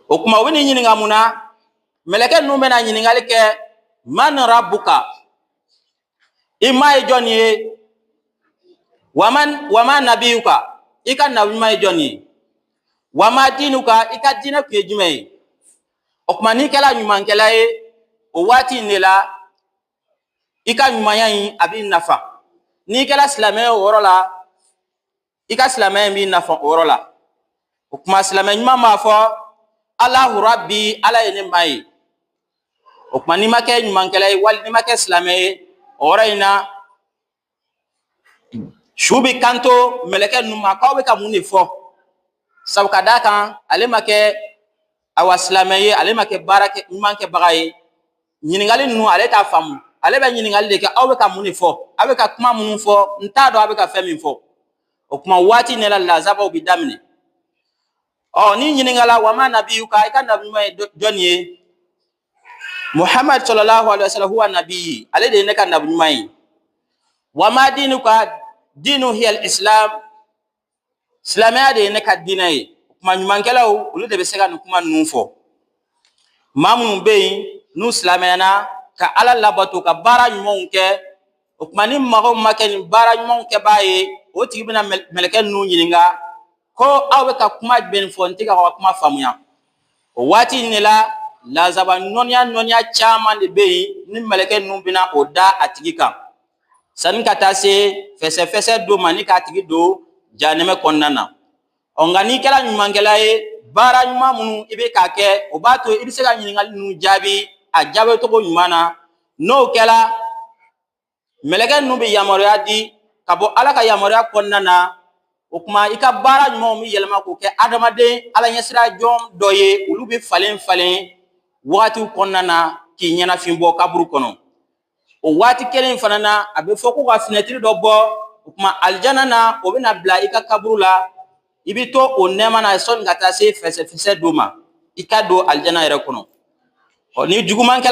o kuma u bɛn'i ɲininka mun na mɛlɛkɛ ninnu bɛna ɲininkali kɛ man rabuka i ma ye jɔn ye wa wa man nabiyuka i ka nabi ɲuman ye jɔn ye wa ma diinuka i ka diinɛ tun ye jumɛn ye o kuma n'i kɛra ɲumankɛla ye o waati in de la i ka ɲumanya in a b'i nafa n'i kɛra silamɛ ye o yɔrɔ la i ka silamɛya in b'i nafa o yɔrɔ la o kuma silamɛ ɲuman b'a fɔ alahu rabi ala ye ne ma ye o kuma n'i ma kɛ ɲumankɛla ye wali n'i ma kɛ silamɛ ye o yɔrɔ in na su bɛ kanto mɛlɛkɛ ninnu ma k'aw bɛ ka mun de fɔ sabu ka d'a kan ale ma kɛ awa silamɛ ye ale ma kɛ baara ɲuman kɛbaga ye ɲininkali ninnu ale t'a faamu ale bɛ ɲininkali de kɛ aw bɛ ka mun de fɔ aw bɛ ka kuma minnu fɔ n t'a dɔn aw bɛ ka fɛn min fɔ o kuma waati in de la lazabaw bɛ daminɛ ɔ n'i ɲininkala wa man nabiyuka i ka nabi ɲuman ye jɔn ye muhammad sallallahu alaihi wasallam huwa nabi ale de ye ne ka nabi ɲuman ye wa ma dinuka dini hiya al islam silamɛya de ye ne ka diinɛ ye kuma ɲumankɛlaw olu de bɛ se ka nin kuma ninnu fɔ maa minnu bɛ yen n'u silamɛyana ka ala labato ka baara ɲumanw kɛ o tuma ni mɔgɔ ma kɛ nin baara ɲumanw kɛbaa ye o tigi bɛna mɛlɛkɛ ninnu ɲininka ko aw bɛ ka kuma jumɛn fɔ n tɛ ka aw ka kuma faamuya o waati in de la lazaba nɔnniya nɔnniya caman de bɛ yen ni mɛlɛkɛ ninnu bɛna o da a tigi kan sani ka taa se fɛsɛfɛsɛ don ma ni k'a tigi don janɛmɛ kɔnɔna na ɔ nka n'i kɛra ɲumankɛla ye baara ɲuman minnu i bɛ k'a kɛ o b'a to i bɛ se ka ɲininkali ninnu jaabi a jaabi cogo ɲuman na n'o kɛra mɛlɛkɛ ninnu bɛ yamaruya di ka bɔ ala ka yamaruya kɔnɔna na o tuma i ka baara ɲumanw bɛ yɛlɛma k'o kɛ adamaden ala ɲɛsiran jɔn dɔ ye olu bɛ falen falen wagatiw kɔnɔna na k'i ɲɛnafin bɔ kaburu kɔnɔ o waati kelen in fana na a bɛ fɔ ko ka finɛtiri dɔ bɔ o tuma alijana na o bɛna bila i ka kaburu la i bɛ to o nɛɛma na sani ka taa se fɛsɛfɛsɛ don ma i ka don alijana yɛrɛ kɔnɔ ɔ ni jugumankɛla